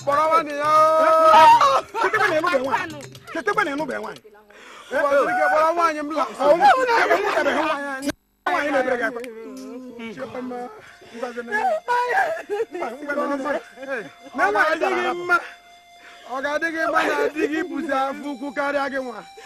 kpọrọ nwanne ya chetekwa na ịnụbe nwaanyị kpọrọ nwaanyị m nwaanyị mebere gị akpa ọ ga-adị gị mma na di gị buzi afọ ukwu karịa gị nwa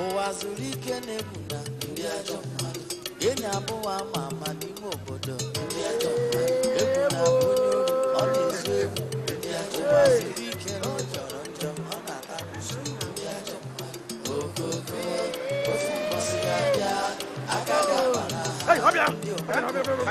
Ụwazuruike na Egwu na ndị ajọ mmadụ enyi abụọ a ma ama n'ime obodo ndị ajọ mmadụ Egwu na-abụ onye ori ọ na-ezu ewu ndị ajọ Ụwazuruike na ọ jọrọ njọ ọ na-ata kwụsị ndị ajọ mmadụ ogogo ofu mbọsị ya bịa aka ga-agba na ha ndị obodo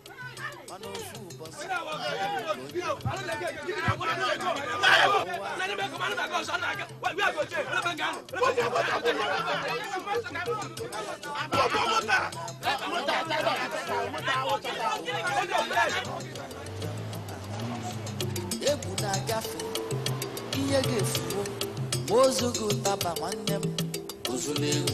Egwu na-agafe ihe ga-efuwo ma o zughị ụtaba nwanne m o zuo nne ewu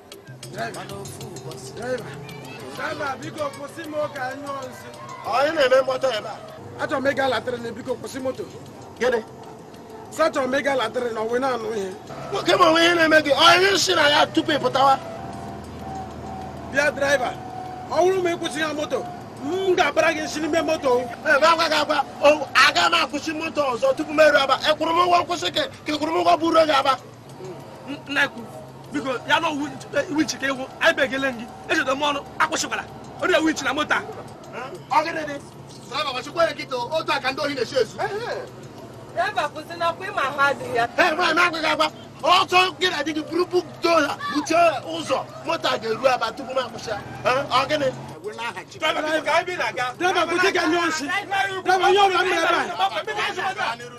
Onye na-eme mkpọtụ ebe a? Achọrọ m ịga latrịn biko kwụsị moto. Gịnị? Sị achọrọ m ịga latrịn ọ wụ ị na-anụ ihe. Nwoke m o nwe ihe na-eme gị, onye si na ya tupu ị pụtawa. Bịa draiva, ọ bụrụ ma ị kwụsịghị moto, m ga-abara gị nsị n'ime moto. Ebe agwa gị agwa, aga m akwụsị moto ọzọ tupu m eru Aba. Ị kwụrụ m ụgwọ nkwụsị ka ị kwụrụ m ụgwọ buru gị Aba. biko ya na ọ wụ winchi ka ị wụ anyị begele gị ejide m ọnụ akwụsịkwara onye winchi na moto a otu a ka ndị ohi na-esi ezu ọtọ gị na di gị buru bukto ha buchie ụzọ moto a ga-eru Aba tupu m akwụsị ọ gịnị Driver, you don't remember.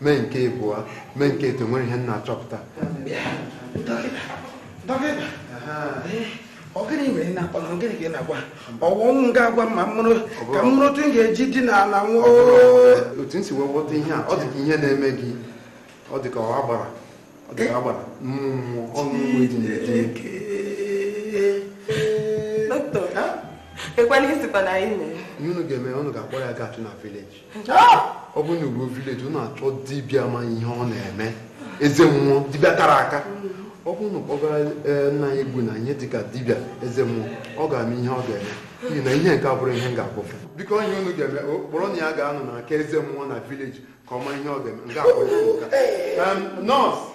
mee nke ịbụọ mee nke etọ nwere ihe m na-achọpụta dọkịta dọkịta ọ gịnị mere na-akpọ na gịnị ka ị na-agwa ọ wụ m ga-agwa ma m mụrụ ka m mụrụ otu m ga-eji dina ala nwụọ otu m si wee ghọta ihe a ọ dị ka ihe na-eme gị ọ dị ka ọ agbara ọ dị ka agbara mmụọ ọnụ mgbe dị na-eke dọkịta ekwana isikwa na anyị mere ihe unu ga-eme unu ga-akpọrọ ya gaa chụ na vileji ọ bụrụ na unu ruo vileji unu achọọ dibịa ma ihe ọ na-eme eze mmụọ dibịa tara aka ọ bụrụ na unu kpọgara eh, nna anyị Egwu na ihe dịka dibịa eze mmụọ ọ ga-ama ihe ọ ga-eme n'ihi na ihe nke a abụrọ ihe m ga-ekwufu biko ihe unu ga-eme kpọrọnụ ya gaanụ na nke eze mmụọ na vileji ka ọ ma ihe ọ ga-eme nke abụrụ nọọsụ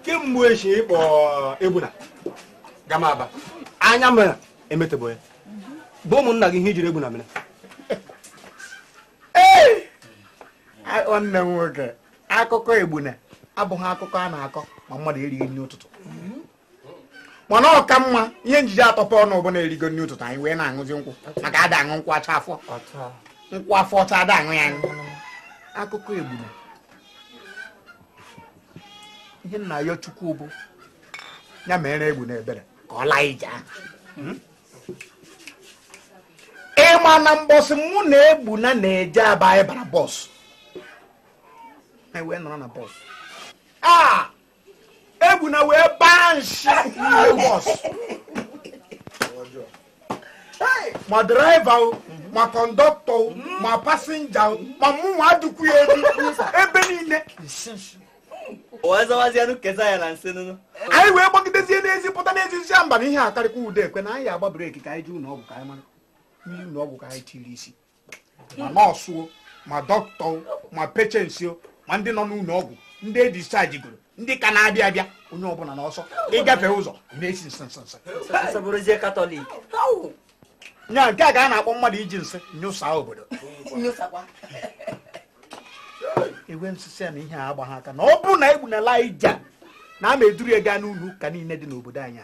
kemgbe echi ị kpọ egbuna gama aba anya m emetebo ya bụ ụmụnna gị ihe i jiri egbuna mere nwanne m nwoke akụkọ egbuna abụghị akụkọ a na-akọ ma mmadụ erighị nri ụtụtụ mana ọ ka mma ihe m ji atọpụ ọnụ bụ na erigo nri ụtụtụ anyị wee na-aṅụzi nkwụ maka ada aṅụ nkwụ ọcha afọ nkwụ afọ ọcha ada aṅụ ya aṅụ akụkọ egbuna ihe m na-ayọ chukwu bụ ya meere m egbuna ebere ka ọ laa ija ahụ hmm? ị ma na mbọsị mụ na egbuna na-eje aba anyị bara bọs anyị wee nọrọ na bọs a ah! egbuna wee baa nshi n'ime bọs ma draiva o ma kọndọktọ o ma pasinja o ma mụnwa adịkwu ya elu ebe niile nshi nshi wee zawazianụ kesa ya na nsị nụnụ anyị wee gbagidezie n'ezi pụta n'ezi sị mba na ihe akarịkwa ude ekwe na anyị agba breki ka anyị jee ụlọ ọgwụ ka anyị mara mmiri ụlọ ọgwụ ka anyị tiri isi ma nọọsụ ma dọkịta ma pechensi ma ndị nọ n'ụlọ ọgwụ ndị e dischajigoro ndị ka na-abịa abịa onye ọbụla n'ọsọ ị gafe ụzọ na-esi nsị nsị nsị nya nke a ka a na-akpọ mmadụ iji nsị nyụsa obodo ewee m sị ya na ihe a agbaghị aka na ọ bụrụ na egbuna laa ija na m ga-eduru ya gaa n'ụlọ ụka niile dị n'obodo anyị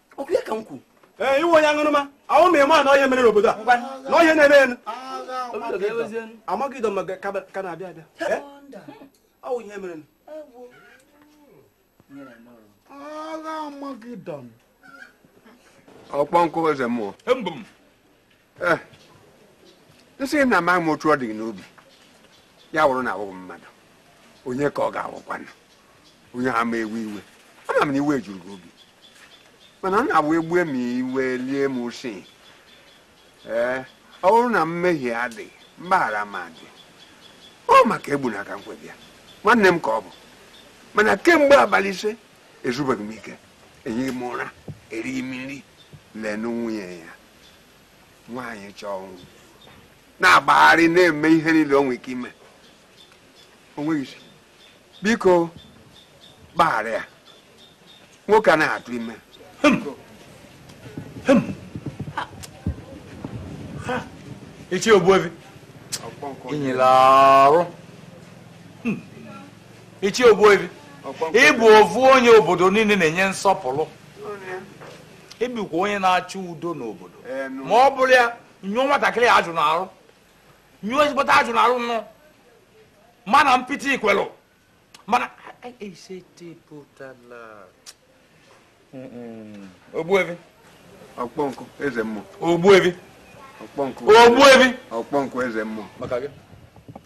okwu ya ka m kwu ee iwe onye aṅụrụma ahụ ma ị ma na ihe mere n'obodo a na ọ ihe na-eme na Amagedọn ka na-abịa abịa ọ wụ ihe mere agha Amagedọn ọkpọ nkụ eze mmụọ Eh, m sịghị na amaghị m otu ọ dị gị n'obi ya wụrụ na awụghị mmadụ onye ka ọ ga-awụkwanụ onye ahụ ama ewe iwe ama m na iwe juru gị obi mana ọ na-awụ egbue ma iwe lie ma usi ee eh, ọ bụrụ na mmehie adịghị mgbaghara ama adị ọ maka egbuna ka m kwo bịa nwanne m ka ọ bụ mana kemgbe abalị ise ezubeghị m ike ehighị m ụra erighị m nri leenụ nwunye ya nwaanyị chọọ nwa na-agbagharị na-eme ihe niile o nwere ike ime o nweghị isi biko gbaghara ya nwoke a na-atụ ime ichie ogbuefi i nyela arụ ichie ogbuefi ị bụ ofu onye obodo niile na-enye nsọpụrụ ebikwa onye na-achọ udo n'obodo ma ọ bụrụ ya nyụọ nwatakịrị ya ajụ n'arụ nyụọ ezigbote ajụ n'arụ nụ mana mpịtị ikwelụ mana esetepụtala ogbuevi ọkpọnkụ eze mmụọ ogbuevi ọkpọnkụ ogbuevi ọkpọnkụ eze mmụọ maka gị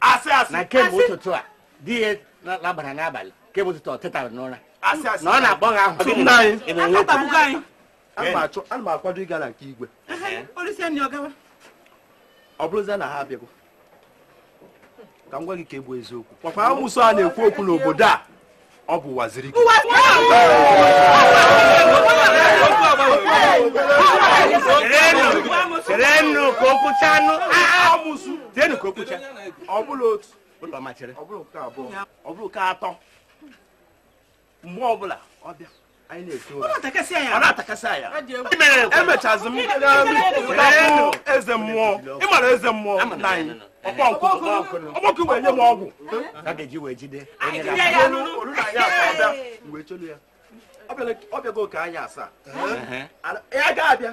asị asị na kemgbe ụtụtụ a di ya labara n'abalị kemgbe ụtụtụ o tetara n'ụra na ọ na-akpọ gị aha ana m akwado ịga na nke igwe ọ bụrụzie na ha abịago ka m gwa gị nke bụ eziokwu ọkwa amusu a na-ekwu okwu n'obodo a ọ bụ ụwazuruike cherenụ ka o kwucha anụ amusu tienụ ka o kwucha ọ bụla otu ụlọ machere ọ bụrụ nke atọ mgbe ọbụla ọ bịa emechazi m eze mmụọ ịmara eze mmụọ nna anyị ọkpọnkụ wee nye m ọgwụ ọ bịago ka anyị asaa ya ga-abịa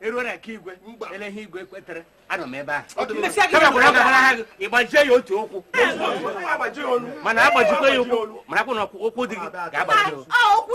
eruo na nke igwe ele ihe igwe kwetere anọ m ebe ahụ ịgbajie ya otu ụkwụ mana agbajikwa ya ụkwụ marakwa na ụkwụ di gị ga-agbaji ụkwụ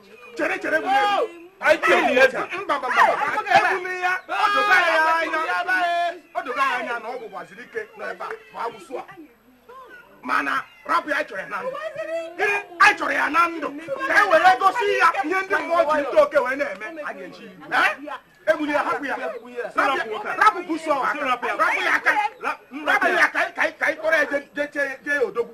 chere chere o dogo anya na ọ bụ ụwazuruike n'ebe a bụ amusu a mana rapụ ya chọrọ ya na ndụ gịnị anyị chọrọ ya na ndụ ka e were gosi ya ihe ndị mmụọ ji ntị oke wee na-eme a ga-eji egbuli ya hapụ ya rapụ buso rapụ ya aka rapụ ya ka anyị kpọrọ ya jee odogwu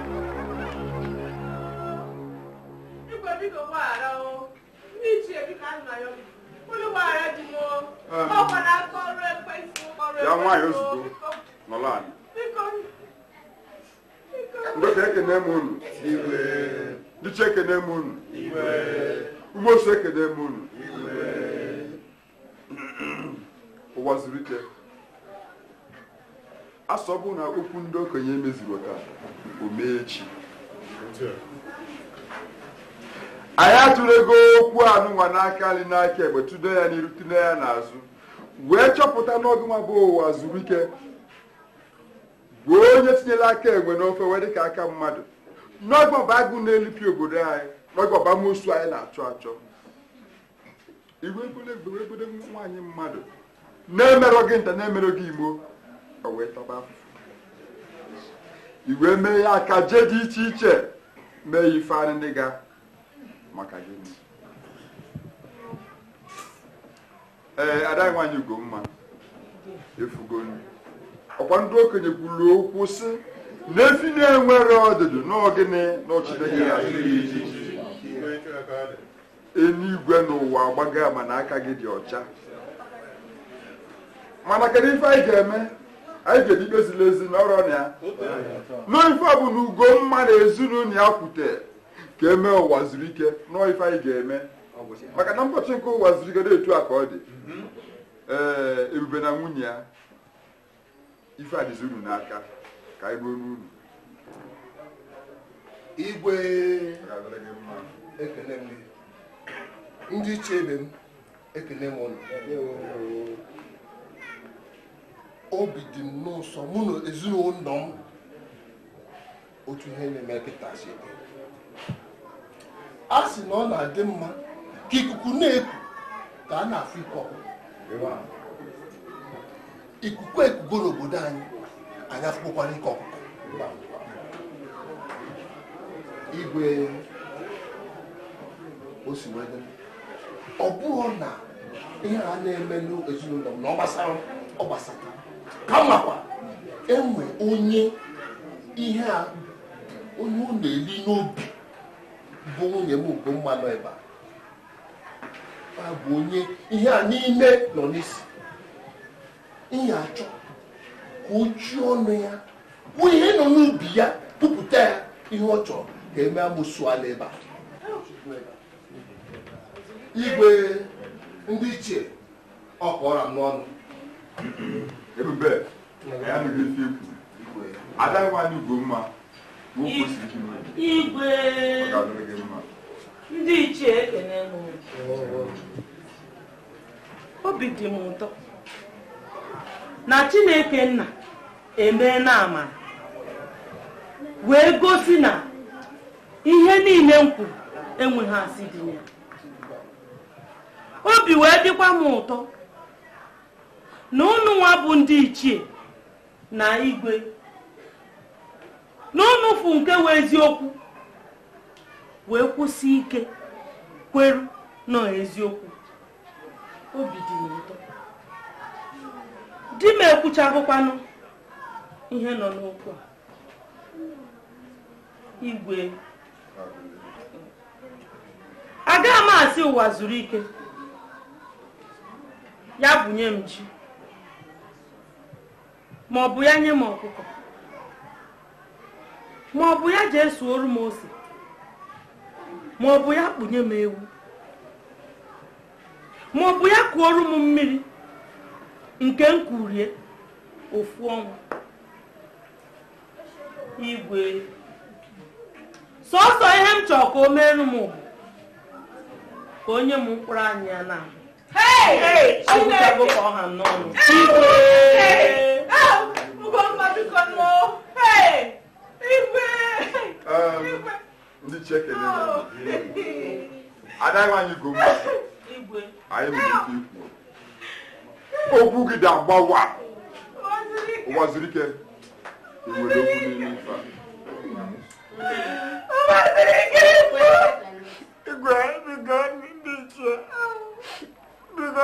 ya nwaanyị ozugbo nọrọ anyị ndị ka ekene m unu ndị ichie ekene m unu umeosu ekene m unu ụwazuruike a sị ọ bụ na okwu ndị okenye emezurọ taa o mee echi anyị atulego okwu anụnwa n'aka nri n'aka ekpe tụdo ya n'iru tụdo ya n'azụ wee chọpụta na ọ gịnwa bụ ụwazuruike bụ onye tinyere aka enwe n'ofe wee dịka aka mmadụ na ọ gị bụ agụ na-elipịa obodo anyị na ọ gị bụ amosu anyị na-achọ achọ i wee jide nwaanyị mmadụ na-emerọ gị nta na-emerọ gị imo o wee taba i wee mee ya akaje dị iche iche mee ife anị ndị ga maka gị ee ada nwaanyị ugomma efugo ọkwa ndị okenye kwuru okwu sị na efi na-enwerọ ọdụdụ na ọ gịnị na ọ chi ya eluigwe na ụwa agbago ama na aka gị dị ọcha mana kedu ife anyị ga-eme anyị ga-eji kpezila ezinụlọ na ya n'ife ọ bụ na ugomma na ezinụlọ ya kwute ka e mee ụwa zuru ike na ọ ife anyị ga-eme maka na mbọchị nke ụwa zuru ike dị etu a ka ọ dị ee ebube na nwunye ya ife a dịzi unu n'aka ka anyị nụ ọnụ unu igwe ekele m ndị ichie ibe m ekele m ụnụ obi dị m n'ụsọ mụ na ezinụlọ m otu ihe na-eme kịta si dị a sị na ọ na-adị mma ka ikuku na-eku ka a na-afụ ike ọkụkọ ikuku ekugo n'obodo anyị anyị afụgokwara ike ọkụkọ igwe o si wee ọ bụrụ na ihe a na-eme n'ezinụlọ m na ọ gbasara ọ gbasata kamakwa e nwee onye ihe a onye ọ na-eli n'obi bụ nwunye m ugomma nọ ebe a bụ onye ihe a niile nọ n'isi ihe a chọ ka o ji ọnụ ya kwuo ihe nọ n'obi ya kwupụta ya ihe ọ chọrọ ka e mee amosu a nọ ebe a igwe ndị ichie ọ kọọrọ m n'ọnụ ebube ya nụrụ ife ikwu adaghịkwa anyị ugomma ma o kwesịrị ike ime igwe ọ ga-adịrị gị mma ndị ichie ekene m obi dị m ụtọ na chineke nna emeena amara wee gosi na ihe niile m kwuru enweghị asị dị ya obi wee dịkwa m ụtọ na ụnụ nwa bụ ndị ichie na igwe na ụnụ fụ nke wụ eziokwu wee kwụsie ike kwụrụ n'eziokwu obi dị m ụtọ di m ekwuchagokwanụ ihe nọ n'okwu a igwe agaghị m asị Ụwazuruike ya bunye m ji ma ọ bụ ya nye m ọkụkọ ma ọ bụ ya je suoru m ose ma ọ bụ ya kpunye m ewu ma ọ bụ ya kuoru m mmiri nke m kurie ofu ọnwa igwe sọsọ ihe m chọrọ ka o merụ m ka o nye m mkpụrụ anya ya na agwụchago ka ọ ha n'ọnụ igwe igwe ndị ichie ekele na ada anyị Ugomma anyị nwere ike ikwu okwu gị dị agbawa Ụwazuruike enwere okwu n'ime ife a igwe biko ndị ichie biko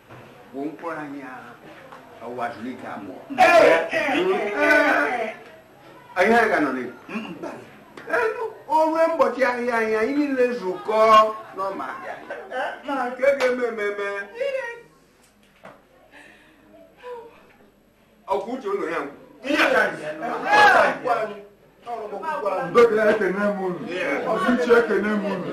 bụ mkpụrụ anya Ụwazuruike amụọ anyị aga nọ n'elu onwe mbọchị ahịa anyị anyị niile zukọ n'ọma ahịa na nke ga-eme ememe ọkwa uche ụlọ ya ngwụ ihe ka anyị Dọkịta ekene m unu, ndị ichie ekene m unu.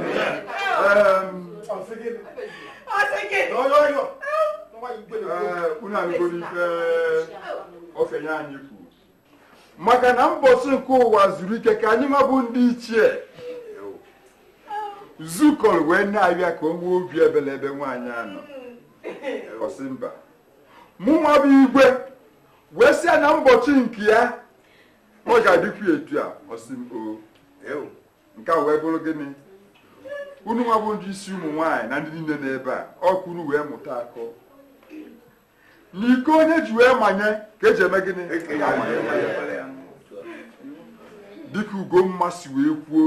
Unu anụgoro ife okenye anyị kwuru. Maka na mbọsị nke Ụwazuruike ka anyịnwa bụ ndị ichie zukọrọ wee na-ayọ ya ka o nwee obi ebele ebe nwaanyị a nọ ọ sị mba mụnwa bụ igwe wee sị ya na mbọchị nke ya ọ ga-adịkwu etu a ọ sị m o nke a wee bụrụ gịnị unu nwa bụ ndị isi ụmụ nwaanyị na ndị niile n'ebe a ọ ka unu wee mụta akọ n'iko onye ji wee manye ka e ji eme gịnị dịka Ugomma si wee kwuo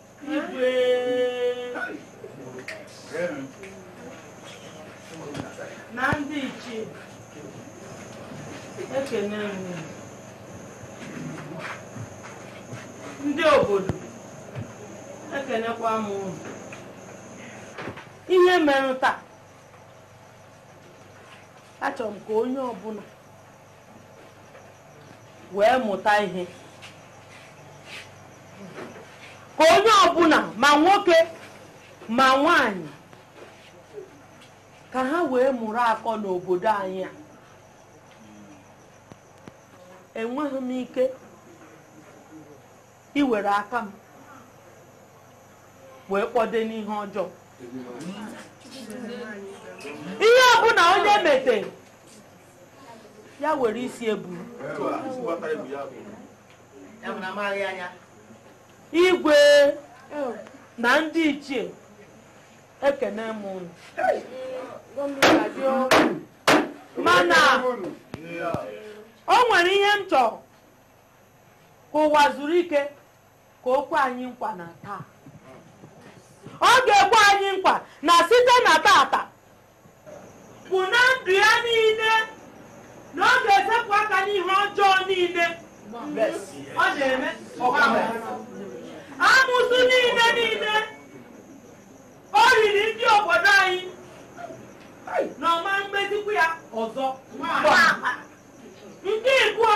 na ndị ichie ekene m unu ndị obodo ekenekwa m unu ihe mere taa achọrọ m ka onye ọbụla wee mụta ihe ka onye ọbụla ma nwoke ma nwanyị ka ha wee mụrụ akọ n'obodo anyị a enweghị m ike iwere aka m wee kpọde n'ihe ọjọọ ihe ọbụla onye mete ya were isi ya buru igwe na ndị ichie ekene m unu mana o nwere ihe m chọrọ ka Ụwazuruike ka o kwe anyị nkwa na taa ọ ga-ekwe anyị nkwa na site na tata bụ na ndụ ya niile na ọ ga-esepụ aka n'ihe ọjọọ niile ọ na-eme amụsụ niile niile o riri ndị obodo anyị na ọ ma mezikwu ya ọzọ nke ịbụọ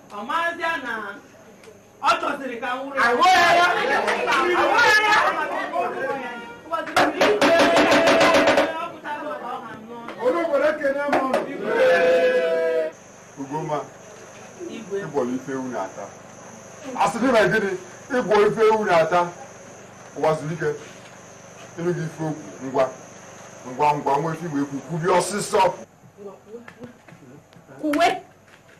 Ugomma ị bụrụ ife ewu na-ata a sị na gịnị ị bụ ife ewu na-ata Ụwazuruike ị nụghị ife o kwu ngwa ngwa ngwa nwee ife i nwe ekwu kwubi ọsịsọ kwuwe